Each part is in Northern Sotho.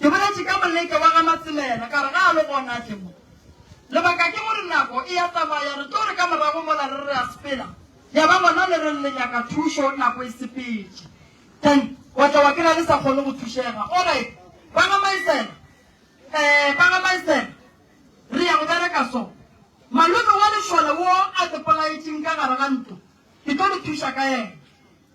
Ke boletše ka Moleke wa ga Masemela ka re ga a lo gona tše mo. Lebaka ke gore nako e a tsamaya, re tlo re ka morago mola re re a sepela, ya ba gona le reng le nyaka thušo nako e sepetše. Then wa tla wa kry-a le sa kgone go thušega. Alright, ba ga Maesela, ee, ba ga Maesela, re ya go bereka so. Malome wa lešole wo a tepolaetšeng ka gare ga ntlo, ke tlo le thuša ka yena.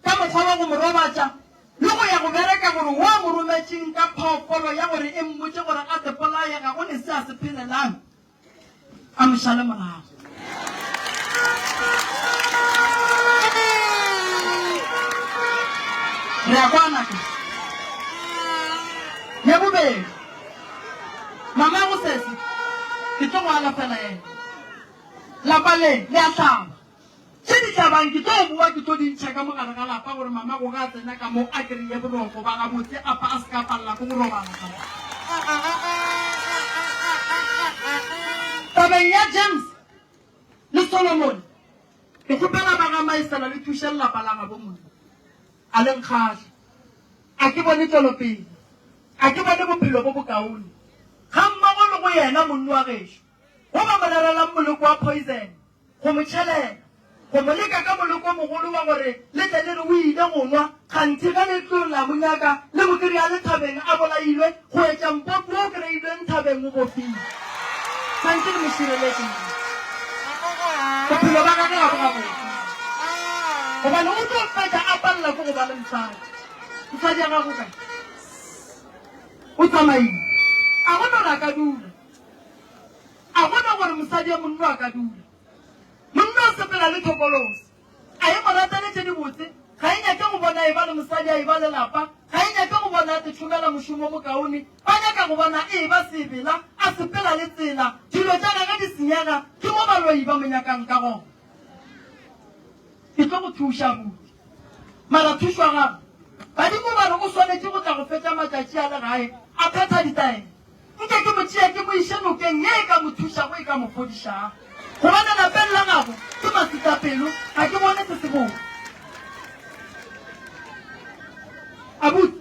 ka mokgwa wa go mo robatša le go ya go bereka gore wo a mo rometšeng ka phoofolo ya gore e mmotše gore a se bolaye ga go ne se a se phelelang a mo šale morago. Re a kwana ka ya bobedi mama go sese ke tlo go alafela ena lapa le le a hlaba Tše di tla bang ke tlo bowa ke tlo di ntšha ka mo gare ga lapa gore mamago ge a tsena ka mo a kry-e boroko ba gabotse apa a se ka palela ko go robala ka mo. Tabeng ya James le Solomon ke kgopela ba ga Maesela le thuše lelapa la gabo monna. A le nkgahla. A ke bone tšwelopele. A ke bone bophelo bo bokaone. Gammogo le go yena monna wa gešo. Go ba mo rerelang moleko wa poison. go mo tšhelela, go mo leka ka moleko o mogolo wa gore le tle le re o ile go nwa, kganthe ge le tlo la mo nyaka le mo kry-a le thabeng a bolailwe, go etša mpopi wo o kry-ilweng thabeng o bofilwe. Kganthe le mo šireletše na? Bophelo ba gagwe ga bo gabotse, gobane o tlo fetša a palela ke go ba le mosadi. Mosadi wa gago o kae? O tsamaile? A go no re a ka dula? A bona gore mosadi a monno a ka dula. Monno o sepela le tokoloso. A e mo rateletše dibotse, ga e nyake go bona eba le mosadi a eba le lapa, ga e nyake go bona le tšhomela mošomo o mokaone, ba nyaka go bona e eba seebela, a sepela le tsela, dilo tša gage di senyega, ke mo baloi ba mo nyakang ka gona. Ke tlo go thuša, abuti. Mara thušo ya gago, badimo ba re o swanetše go tla go fetša matšatši a le gae a phetha ditaelo. Nke ke mo tšee ke mo iše nokeng ye e ka mo thušago, e ka mo fodišago. Gobane lapeng la gabo ke maswisapelo, ga ke bone se sebotse. Abuti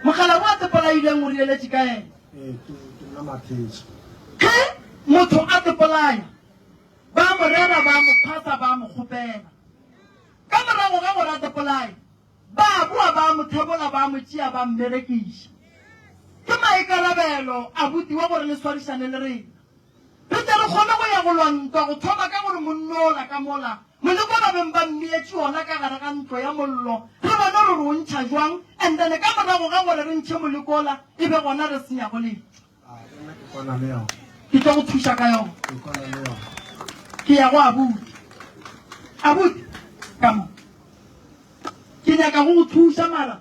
Mokgalabje wa Sepolaileng o rireletše ka yena. Ee, ke nna Matheša. Ge motho a sepolaya, ba mo rera, ba mo phasa, ba mo kgopela. Ka morago ga gore a sepolaye, Ba boa ba a mo tlhabola, ba a mo tšea ba a mmerekiša. Ke maikarabelo a butiwa gore le swarišane le rena. Re tle re kgone go ya go lwa ntwa go thoma ka gore monno ola ka mola, moleko ba beng ba mmietše ona ka gare ga ntlo ya mollo, re bone gore o ntšha jwang, and then ka morago ga gore re ntšhe moleko ola e be gona re se nyago letho. ke tlo go thuša ka yona ke ya go abuti abuti ka mo ke nyaka go go thuša mara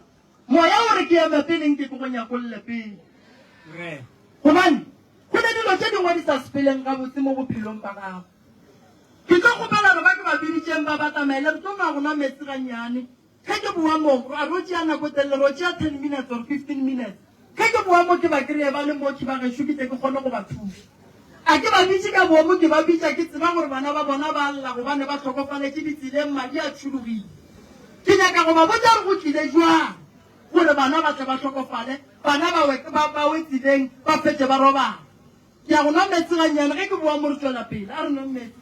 moya o re ke eme peleng ke ke go nyakolle pele gobane go ne dilo tse dingwe di sa sepeleng gabotse mo bophelong ba gago ke tlo kgopela re ba ke ba biditšeng ba ba tsamaele re tlo ma go nwa metsi gannyane Ge ke bowa mo, ra ro tšea nako e telele, ro tšea ten minutes or fifteen minutes. Ge ke bowa mo, ke ba kreye ba le mo, Thibagešo, ke tle ke kgone go ba thuša. A ke ba bitše ka boomo, ke ba bitša ke tseba gore bana ba bona ba a lla gobane ba hlokofaletše ditseleng, madi a tšhologile. Ke nyaka go ba botša gore go tlile bjang gore bana ba tle ba hlokofale, bana ba we, ba, ba we tseleng, ba fetše ba robala. Ke ya go nwa meetse gannyane, ge ke bowa mo re tšwela pele. A re nweng meetse.